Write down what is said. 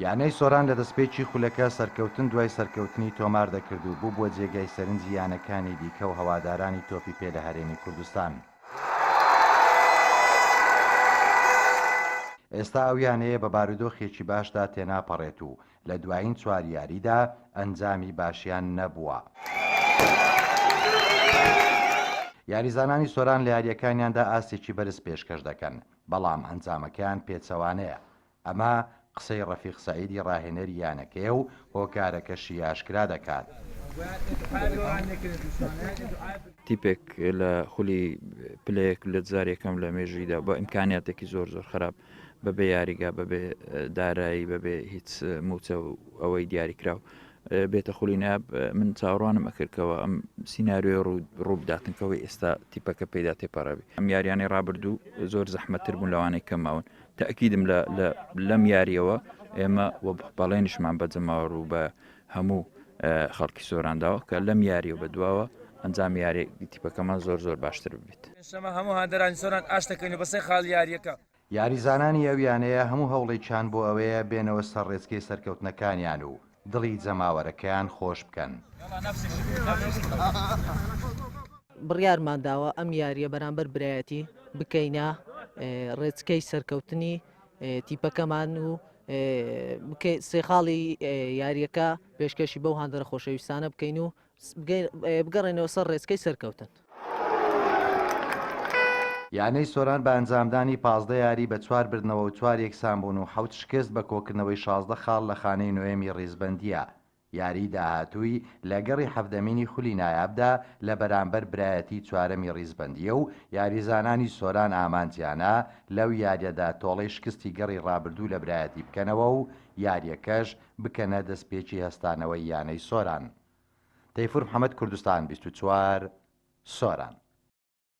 یانەی سۆران لە دەستپێکی خولەکە سەرکەوتن دوای سەرکەوتنی تۆمار دەکرد و بووبووە جێگای سەرنجی یانەکانی دیکە و هەوادارانی تۆپی پێ لە هەرێمی کوردستان. ئێستا ئەو یانەیە بە بارودۆخێکی باشدا تێناپەڕێت و لە دوایین چوار یاریدا ئەنجامی باشیان نەبووە. یاریزانانی سۆران لە یارییەکانیاندا ئاستێکی بەرز پێشکەش دەکەن، بەڵام ئەنجامەکەیان پێچەوانەیە، ئەمە قسەی رەفیق سەعیدی راهێنەری یانەکەیە و هۆکارەکەشی ئاشکرا دەکات. تیپێک لە خولی پلەیەک لە جار یەکەم لە مێژوویدا بە ئیمکانیاتێکی زۆر زۆر خراپ بەبێ یاریگا بەبێ دارایی بەبێ هیچ مووچە و ئەوەی دیاریکراو بێتە خولی ناب من چاوەڕوانم ئەکرد کەەوە ئەم سینناریۆی ڕووبداتن کەەوەی ئێستا تیپەکە پێدا تێپەڕەوی ئەم یاریانەی ڕابردوو زۆر زەحمەتتر بوون لەوانەی کەماون تاکیدم لەم یاریەوە ئێمە وە بەڵێنشمان بە جەماوە ڕوو بە هەموو خەڵکی سۆرانداوە کە لەم یاری و بەدواوە ئەنجام یاری تیپەکەمان زۆر زۆر باشتر ببیت شەمە هەموو هاندەرانی سۆران ئاشتەکەین و بەسێ خاڵ یاریەکە یاریزانانی ئەو یانەیە هەموو هەوڵێکیان بۆ ئەوەیە بێنەوە سەر ڕێچکەی سەرکەوتنەکانیان و دڵی جەماوەرەکەیان خۆش بکەن. بڕیارمانداوە ئەم یارییە بەرامبەر برایەتی بکەینە ڕێچکەی سەرکەوتنی تیپەکەمان و سێ خاڵی یارییەکە پێشکەشی بەو هاندەرە خۆشەویستانە بکەین و بگەڕێنەوە سەر ڕێچکەی سەرکەوتن. یانەی سۆران بە ئەنجامدانی پازدە یاری بە چوار بردنەوە و چوار یەکسانبوون و حەوت شکست بە کۆکردنەوەی شازدە خاڵ لە خانەی نۆیەمی ڕیزبەندییە یاریی داهاتووی لە گەڕی حەڤدەمینی خولی نایابدا لە بەرامبەر برایەتی چوارەمی ڕیزبەندییە و یاریزانانی سۆران ئامانجیانە لەو یارییەدا تۆڵەی شکستی گەڕی ڕابردوو لە برایەتی بکەنەوە و یارییەکەش بکەنە دەستپێکی هەستانەوەی یانەی سۆران. تەیفور محەمەد کوردستان بیست و چوار، سۆران.